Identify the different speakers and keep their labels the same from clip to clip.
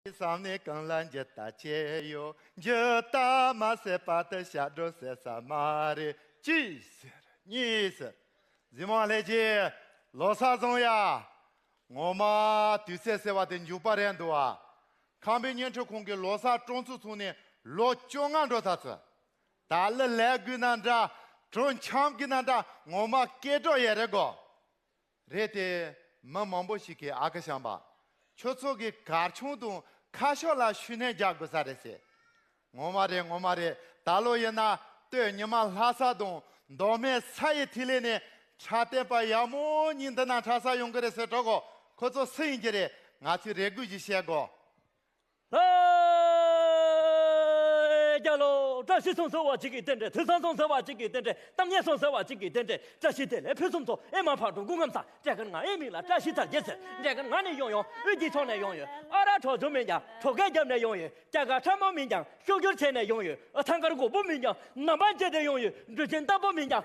Speaker 1: བསམ་ནས་གང་ལ་འགྱུར་ལྟ་བྱས་ཡོད། འགྱུར་ལྟ་མ་བྱས་པར་དུ་ཞབས་བྲོ་ཟེར་ས་མ་རེད། གཅིག་ཟེར། གཉིས་ཟེར། གཟིམ་དབང་ལྷས་ཀྱིས། ལོ་སར་བཟང་ཡ། ངོ་མ། དུས་ཚོད་ཟེར་བ་དེ་མཇུག་པ་རན་འདུག་ཨ། ཁང་པའི་བརྙན་འཕྲིན་ཁང་གི་ལོ་སར་གྲོང་ཚོ་ཚུགས་ནས་ལོ་བཅོ་ལྔ་འགྲོ་ཚར་ཚུལ། ད་ལི་ལས་དགོས་ན་འདྲ། གྲོས་འཆམ་དགོས་ན་འདྲ་ངོ་མ་སྐད་སྒྲོག་ཡས་རེད་གོ། རེད་དེ། མི་མང་པོ་ཞིག་གིས་ཨ་ཁུ་བྱམས་པ། ཁྱོད་ཚོ་གི་གར་ཆུང་དང་ཁ་ཤོ་ལ་ཤུལ་གནས་རྒྱག་དགོས་ས་རེད་ཟེར། ངོ་མ་རེད་ངོ་མ་རེད་ད་ལོ་ཡིན་ན་སྟོད་ཉི་མ་ལྷ་ས་དང་མདོ་སྨད་ས་ཡི་ཐིག་ལེ་ནས་ཁྲ་བསྟན་པ་ཡག་མོ་གཉིས་འདི་ན་ཁྲ་ས་ཡོང་གི་རེད་ཟེར་གྲོགས་ཁོ་ཚོ་སུ་ཡིན་གྱི་རེད་ང་ཚོས་རེ་སྒུག་ཞིག་བྱེད་དགོས། ལྷ་
Speaker 2: རྒྱལ་ལོ། བཀྲ་ཤིས་སོང་ཟེར་བ་གཅིག་གིས་རྟེན་འབྲེལ་དུས་བཟང་སོང་ཟེར་བ་གཅིག་གིས་རྟེན་འབྲེལ་གཏམ་སྙན་སོང་ཟེར་བ་གཅིག་གིས་རྟེན་འབྲེལ་བཀྲ་ཤིས་བདེ་ལེགས་ཕུན་སུམ་ཚོགས་ཨེ་མ་ཕག་གྲུ་འགུགས་ངམ་ཟ་འབྲས་གར་ང་ཨེ་མིག་ལ་བཀྲ་ཤིས་དར་རྒྱས་ཟེར་འབྲས་གར་ང་ནི་ཡོང་ཡོང་དབུས་སྐྱིད་ཕྱོགས་ནས་ཡོང་ཡོད་ཨ་ར་གྲོགས་ཆུང་མིན་ཀྱང་གྲོགས་སྐད་རྒྱབ་ནས་ཡོང་ཡོད་སྐྱ་དཀར་ཁྲ་མོ་མིན་ཀྱང་ཤུགས་རྒྱུར་བྱས་ནས་ཡོང་ཡོད་ཨ་ཐང་དཀར་གོག་པོ་མིན་ཀྱང་ནམ་འབངས་བརྗེད་དེ་ཡོང་ཡོད་འབྲུ་ཆེན་རྟ་ཕོ་མིན་ཀྱང།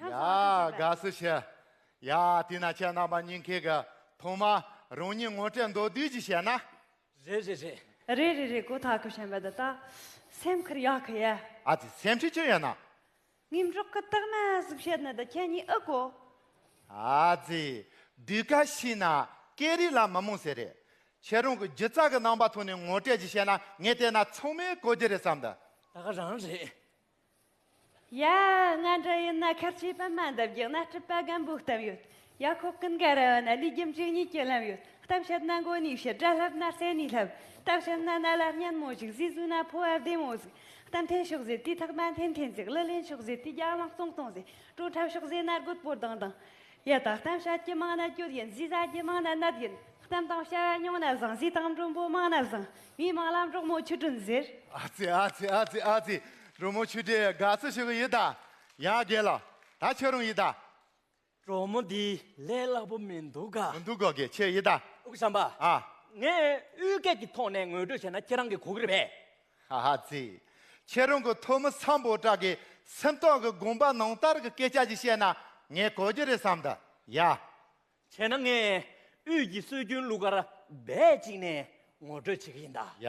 Speaker 1: ཡ། དགའ་བསུ་ཞུ། ཡ། དེས་ན་ཁྱེད་རྣམ་པ་གཉིས་མཁས་གི། ཐོག་མ། རང་ཉིད་ངོ་སྤྲད་མདོ་བསྡུས་ཀྱིས་བཤད་ན། རེད་རེད་
Speaker 2: རེད། རེད་རེད་རེད་གོ་
Speaker 3: ད་གོ་ཤན་པ་ད་ད། སེམས་ཁུར་ཡག་གི་ཡ། ཨ་ཙི་སེམས་ཁྲིད་ཅི་
Speaker 1: ཡོད་ན། ངེད་འབྲོག་
Speaker 3: གི་སྟག་མ་གཟུགས་བྱད་ནི་ད་ཁྱེད་གཉིས་ཨི་གོ། ཨ་
Speaker 1: ཙི། སྡུད་ཁ་ཤི་ན། སྐད་རིགས་ལ་མི་རྨོངས་ཟེར་རེད། ཁྱེད་རང་གི་སྒྱུ་རྩལ་གི་རྣམ་པ་ཐོག་ནས་ངོ་སྤྲད་ཀྱིས་བཤད་ན་ངས་བལྟས་ན་ཚང་མས་གོ་རྒྱུ་རེད་བསམ་འདུག། ད་ག་རང་རེད།
Speaker 2: ཡ།
Speaker 3: ང་འདྲ་ཡིན་ན་ཁར་ཆུའི་པད་མ་འདབ་རྒྱག་ན་སྤྲུལ་པ་སྒམ་པོ་གཏམ་ཡོད། ཡ་ཁོག་ཀུན་དགའ་ར་བ་ན་ལུས་རྒྱུ་འཇིག་གཉིས་ཀྱི་ལམ་ཡོད། གཏམ་བཤད་ན་མགོ་ནས་བཤད་སྒྲ་ལྷབ་ན་རྩེ་ནས་ལྷབ། གཏམ་བཤད་ན་རྣ་ལ་སྙན་མོ་གཞིག་གཟིགས་གཟུགས་ན་ཕོ་བ་བདེ་མོ་གཟིགས། གཏམ་འཐེན་ཤོག་ཟེར་དུས་ཐག་པ་འཐེན་འཐེན་གཟིགས་གླུ་ལེན་ཤོག་ཟེར་དུས་རྒྱག་ལངས་གཙང་གཙང་གཟིགས། སྤྲོ་འཁྲབ་ཤོག་ཟེར་ན་རྒོད་པོ་ལྡང་ལྡང། ཡ་ད་གཏམ་བཤད་ཀྱི་མང་ན་རྒྱུད་ཡིན་གཟིགས་བཟའ་ཀྱི་མང་ན་གནད་ཡིན་གཏམ་དང་བྱ་བ་ཉུང་ན་བཟང་གཟིགས་དང་མགྲོན་པོ་མང་ན་བཟང་མིའི་མང་ལ་འབྲོག་མོ་ཆུ་སྒྲོན་ཟེར། ཨ་ཙི་ཨ་ཙི་ཨ་ཙི་
Speaker 1: ཨ་ཙི། འབྲོག་མོ་ཆུ་སྒྲོན་དགའ་བསུ་ཞུ་གི་ཡོད་ད། ཡ་རྒན་ལགས། ད་ཁྱོད་རང་ཡིན་ད། འབྲོག་མོ་འདི་
Speaker 2: ལས་སླ་པོ་མི་འདུག་ག། མི་འདུག་ག་གི་ཁྱེད་ཡིན་ད།
Speaker 1: དབུས་བྱམས་པ། ཨ།
Speaker 2: ངས་དབུས་སྐད་ཀྱི་ཐོག་ནས་ངོས་སྤྲོད་བྱས་ན་ཁྱེད་རང་གི་གོ་གི་རེད་པས། ཧ་ཧ་ཙི།
Speaker 1: ཁྱེད་རང་གི་ཐོག་མི་ཚང་པོ་དག་གི་སེམས་ཐོག་གི་དགོངས་པ་ནང་ལྟར་གི་སྐད་ཆ་ཞིག་བཤད་ན་ངས་གོ་རྒྱུ་རེད་བསམ་ད་ཡ། བྱས་ན་ངས་
Speaker 2: དབུས་ཀྱི་སྲོལ་རྒྱུན་གླུ་གར་རྦད་ཅིག་ནས་ངོ་སྤྲོད་བྱེད་གི་ཡིན་ད། ཡ།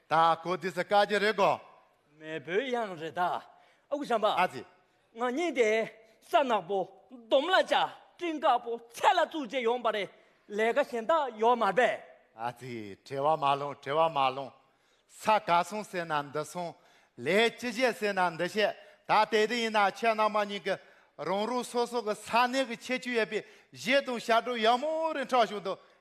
Speaker 1: དྭ་ཀོ་འདི་ས་ཀ་རྗེ་རེད་གོ། མེས་པོའི་གཡང་
Speaker 2: རེད་ད། ཨ་ཁུ་བྱམས་པ། ཨ་ཙི། ང་
Speaker 1: གཉིས་དེ་
Speaker 2: ས་ནག་པོ་འདོམ་ལ་བཅའ་སྤྲིན་དཀར་པོ་ཚལ་ལ་བཙུགས་རྗེས་ཡོང་པ་རེད་ལས་ཀ་གཞན་དག་ཡོད་མ་རེད། ཨ་ཙི།
Speaker 1: བྲེལ་བ་མ་སློང་བྲེལ་བ་མ་སློང། ས་ག་སོང་ཟེར་ན་འདི་སོང། ལས་ཅི་བྱེད་ཟེར་ན་འདི་བྱེད་ད་དེ་དེ་ཡིན་ན་ཁྱེད་རྣམས་མ་གཉིས་ཀྱི་རང་རུ་སོ་སོ་གི་ས་གནས་ཀྱི་ཁྱད་ཆོས་ཡོད་པའི་གཞས་དང་ཞབས་བྲོ་ཡག་མོ་རེ་འཁྲབ་བྱུང་དུ་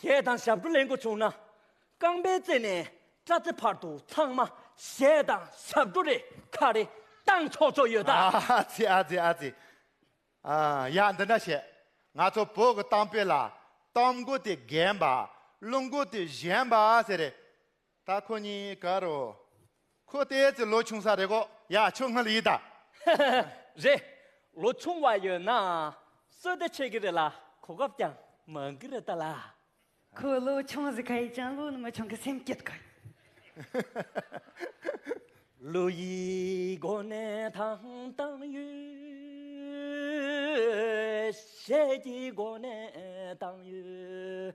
Speaker 2: ཞེས་དང་ཞབས་བྲོ་ལེན་དགོས་བྱུང་ན། རྐང་པའི་རྩེ་ནས་སྐྲ་རྩེ་བར་དུ་ཚང་མ་ཞེས་དང་ཞབས་བྲོ་རེ་ཁ་རེ་བཏང་ཆོག་ཆོག་ཡོད་ད། ཨ་ཙི་ཨ་ཙི་ཨ་
Speaker 1: ཙི། ཡ་འདི་འདྲ་བྱེད། ང་ཚོ་བོད་ཀྱི་གཏམ་དཔེ་ལ། གཏམ་མགོ་དེ་རྒན་པ། བླུན་མགོ་དེ་གཞན་པ་ཟེར་རེད། ད་ཁོ་གཉིས་ག་རོ། ཁོ་ལྟས་ཀྱི་ལོ་ཆུང་ས་རེད་གོ། ཡ་ཁྱོད་སྔར་ཡིན་ད།
Speaker 2: རེད། ལོ་ཆུང་བ་ཡོད་ན་གསོལ་བདེ་ཆེ་གི་རེད་ལ་གོ་སྐབས་ཀྱང་མང་གི་རེད་ད་ལ། ཁོ་ལོ་
Speaker 3: ཆུང་ཟིག་ག་ཡིན་ཀྱང་ལོ་ནི་མི་ཆུང་གི་སེམས་སྐྱིད་ག་ཡིན།
Speaker 2: ལོ་ཡི་སྒོ་ནས་ཐང་བཏང་ཡོད། ཞལ་གྱི་སྒོ་ནས་བཏང་ཡོད།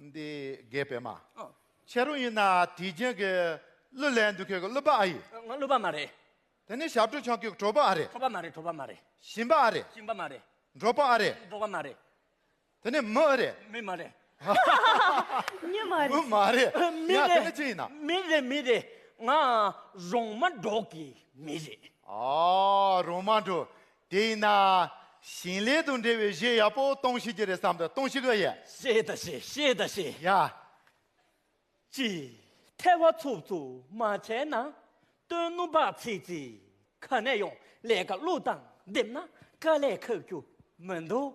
Speaker 1: འདི་རྒས་པས་མ་བྱས་རུང་ཡིན་ན་དུས་རྒྱུན་གྱི་
Speaker 2: གླུ་ལེན་འདུག་ཁྱོད་ཀྱི་གླུ་པ་ཨ་ཡི། ང་གླུ་པ་མ་རེད། དེ་ནི་ཞབས་བྲོ་ཆང་ཁྱོད་
Speaker 1: ཀྱི་བྲོ་པ་ཨ་རེད། བྲོ་པ་མ་རེད་བྲོ་པ་མ་
Speaker 2: རེད། བཞིན་པ་ཨ་རེད། བཞིན་
Speaker 1: པ་མ་རེད།
Speaker 2: འགྲོ་པ་ཨ་རེད། འགྲོ་
Speaker 1: བ་མ་རེད།
Speaker 2: དེ་ནི་མི་ཨ་
Speaker 1: རེད། མི་མ་རེད།
Speaker 3: མྱི་མ་རེད། མི་མ་རེད།
Speaker 1: མི་ཡ་དེ་ནི་ཅི་ཡིན་
Speaker 2: ན། རེད། མི་
Speaker 1: རེད་
Speaker 2: མི་
Speaker 1: རེད། ང་
Speaker 2: རོང་མ་འབྲོག་གི་མི་རེད། ཨ་རོང་མ་
Speaker 1: འབྲོག་དེ་ཡིན་ན། ཞིང་ལས་དང་འབྲེལ་བའི་གཞས་ཡག་པོ་གཏོང་ཤེས་ཀྱི་རེད་བསམ་དུ་གཏོང་ཤེས་གི་
Speaker 2: ཡ། ཤེས་ད་ཤེས་ཤེས་ད་ཤེས། ཡ།
Speaker 1: ཀྱི། ཐལ་བ་ཚུབ་ཚུབ་མ་བྱས་ན། སྟོན་སྣུམ་བག་ཚིག་ཚིག་ག་ནས་ཡོང་ལས་ཀ་བླུག་སྟངས་བསྡེབས་ན་དཀའ་ལས་ཁག་རྒྱུ་མི་འདུག།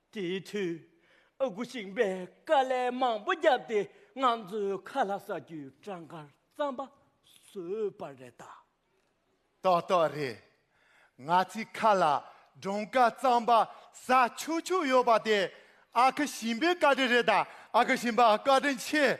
Speaker 2: དེའི་དུས་
Speaker 1: ཨ་ཁུ་ཞིང་པས་དཀའ་ལས་མང་པོ་བརྒྱབ་སྟེ་ང་ཚོའི་ཁ་ལྷ་ཟ་རྒྱུའི་གྲངས་ཀར་རྩམ་པ་བཟོས་པ་རེད་ད། ཏོག་ཏོག་རེད། ང་ཚོའི་ཁ་ལ་གྲངས་ཀར་རྩམ་པ་ཟ་ཆོག་ཆོག་ཡོད་པ་དེ་ཨ་ཁུ་ཞིང་པའི་བཀའ་དྲིན་རེད་ད། ཨ་ཁུ་ཞིང་
Speaker 3: པ་བཀའ་དྲིན་ཆེ།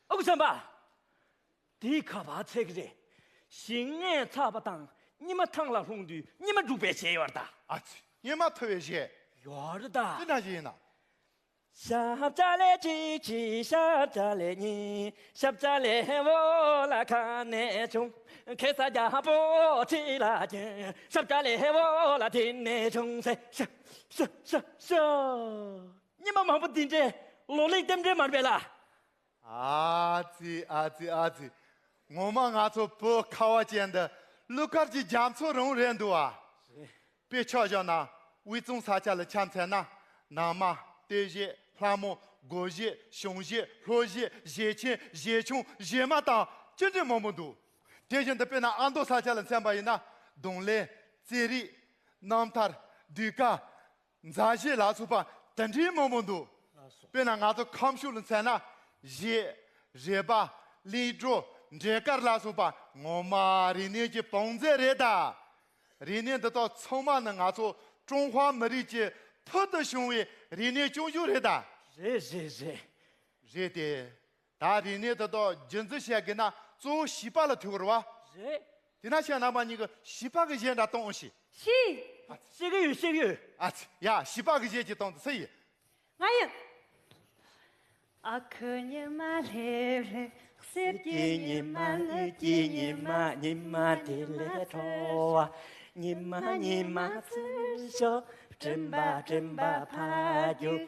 Speaker 2: ཨ་ཁུ་བྱམས་པ། དེ་ག་བ་ཚད་གི་རེད། ཞིང་ལྔའི་ཚགས་པ་དང་སྙེ་མ་ཐང་ལ་ལྷུང་དུས་སྙེ་མ་སྒྲུག་
Speaker 1: པའི་གཞས་ཡོར་ད། ཨ་ཙི། སྙེ་མ་ཐོ་བའི་གཞས། ཡོར་ད།
Speaker 2: འདི་ན་གཞས་ཡིན་ན།
Speaker 1: ཤབ་ལྕ་ལེ་ཅི་ཅི་ཤབ་ལྕ་ལེ་གཉིས་ཤབ་ལྕ་ལེ་
Speaker 2: བོ་ལ་ཁ་ནས་བྱུང། གེ་སར་རྒྱ་པོ་ཁྲི་ལ་བྱོན། ཤབ་ལྕ་ལེ་བོ་ལ་དེ་ནས་བྱུང་ཟེར། ཤ་ཤ་ཤ་ཤ། སྙེ་མ་མང་པོ་འདི་འདྲའི་ལོ་ལེགས་ལྡེམ་འདྲའི་མར་བལ་ལ། ཨ་ཙི་ཨ་ཙི་ཨ་ཙི། ངོ་མ་ང་ཚོ་བོད་ཁ་བ་ཅན་འདི་ཀླུ་མཁར་གྱི་རྒྱ་མཚོ་རིང་བོ་རེད་འདུག་ཨ། རེད། དཔེ་ཆ་བཞག་ན་དབུས་
Speaker 1: གཙང་ས་ཆ་ལ་འཁྱམས་ཚད་ན། ནང་མ། ལྟོས་གཞས། ལྷ་མོ། སྒོ་གཞས། གཞུང་གཞས། ལྷོ་གཞས། གཞས་ཆེན། གཞས་ཆུང། གཞས་དམའ་དང། ཅི་འདྲའི་མང་པོ་འདུག། དེ་བཞིན་དུ་དཔེར་ན་ཨ་མདོ་ས་ཆ་ལ་འཁྱམས་པ་ཡིན་ན། གདོང་ལེན། རྩེད་རིགས། རྣམ་ཐར། བསྡུས་ཀ། མཛའ་བཤེས་ལགས་ཚུགས་པ་དེ་འདྲའི་མང་པོ་འདུག་དཔེར་ན་ང་ཚོ་ཁམས་ཕྱུགས་ལ་མཚན་ན། གཞས། རས་པ། གླིང་སྒྲོ། འབྲས་དཀར་ལ་སོགས་པ་ངོ་མ་རིག་གནས་ཀྱི་བང་མཛོད་རེད་ད། རིག་གནས་འདི་དག་ཚང་མ་ནི་ང་ཚོ་ཀྲུང་ཧྭ་མི་རིགས་ཀྱི་
Speaker 3: ཕུལ་དུ་བྱུང་བའི་རིག་གནས་ཅུང་ཞུགས་རེད་ད། རེད་རེད་རེད། རེད་དེ། ད་དེ་ནས་དེ་དག་རྒྱུན་འཛིན་བྱེད་དགོས་ན་གཙོ་བོ་བྱིས་པ་ལ་ཐུག་བར་བ། རེད། དེས་ན་ཁྱེད་རྣམ་པ་གཉིས་ཀྱི་བྱིས་པ་གི་གཞས་འདྲ་གཏོང་ཞིག། ཤིས། ཨ་ཚེ། ཤེས་ཀྱི་ཡོད་ཤེས་
Speaker 2: ཀྱི་ཡོད། ཨ་ཚེ། ཡ་བྱིས་པ་
Speaker 1: གི་གཞས་ཅིག་གཏོང་དུ་ཚེ་ཡི། ང་ཡི།
Speaker 3: ཨ་ཁུ་ཉི་མ་ལྷེ་ལྷེ་གསེར་གྱི་ཉི་མ་དངུལ་གྱི་ཉི་མ་ཉི་མ་དེ་ལས་མཐོ་
Speaker 2: བ། ཉི་མ་ཉི་མ་ཚུར་ཤོག་སྤྲིན་པ་སྤྲིན་པ་ཕ་རྒྱུད་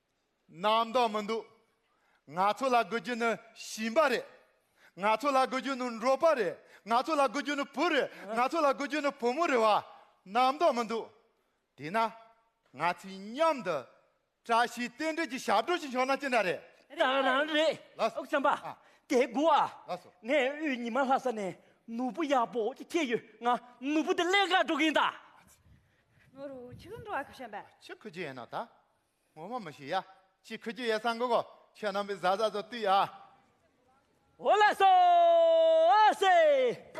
Speaker 3: རྣམ་
Speaker 1: རྟོག་མི་འདུག། ང་ཚོ་ལ་དགོས་རྒྱུ་ནི་ཞིང་པ་རེད། ང་ཚོ་ལ་དགོས་རྒྱུ་ནི་འབྲོག་པ་རེད། ང་ཚོ་ལ་དགོས་རྒྱུ་ནི་བུ་རེད། ང་ཚོ་ལ་དགོས་རྒྱུ་ནི་བུ་མོ་རེད་བ། རྣམ་རྟོག་མི་འདུག། དེས་ན། ང་ཚོས་མཉམ་དུ། བཀྲ་ཤིས་རྟེན་འབྲེལ་གྱི་ཞབས་བྲོ་ཞིག་ཤོར་ན་ཅི་འདྲ་རེད། རང་རང་རེད། བྱམས་
Speaker 2: པ། དེ་དགུ་བ།
Speaker 1: ངས་དབུས་ཉི་མ་ལྷ་ས་ནས་ནོར་བུ་
Speaker 2: ཡག་པོ་ཅིག་ཁྱེར་ཡོད་ང་ནོར་བུ་དེ་ཀླད་ཀར་འགྲོ་གིན་གདའ།
Speaker 3: ནོར་བུ་ཆི་ཁུ་འགྲོ་བ་ཁུ་བྱམས་པ། ཆི་ཁུ་ཅི་ཡིན་ནོ་ད།
Speaker 1: ངོ་མ་མི་ཤེས་ཡ། ཅི་ཁུ་རྒྱུ་ཡས་སང་གོ་གོ། ཁྱོད་རྣམ་པའི་བཟའ་བཟའ་ཚོ་བཏུས་ཡ། འོ་ལ་སོ་
Speaker 2: སེ།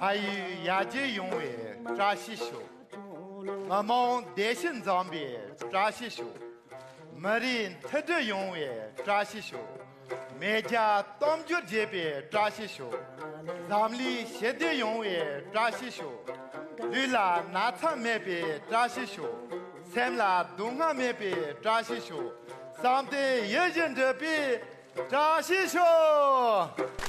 Speaker 1: ཕ་ཡུལ་ཡར་རྒྱས་ཡོང་བའི་བཀྲ་ཤིས་ཤོག། མི་དམངས་བདེ་སྐྱིད་འཛོམས་པའི་བཀྲ་ཤིས་ཤོག། མི་རིགས་མཐུན་སྒྲིལ་ཡོང་བའི་བཀྲ་ཤིས་ཤོག། མེས་རྒྱལ་གཏམ་རྒྱུད་རྒྱས་པའི་བཀྲ་ཤིས་ཤོག། འཛམ་གླིང་ཞི་བདེ་ཡོང་བའི་བཀྲ་ཤིས་ཤོག། ལུས་ལ་ན་ཚ་མེད་པའི་བཀྲ་ཤིས་ཤོག། སེམས་ལ་སྡུག་བསྔལ་མེད་པའི་བཀྲ་ཤིས་ཤོག། བསམ་གཏན་ཡིད་བཞིན་འགྲུབ་པའི་བཀྲ་ཤིས་ཤོག།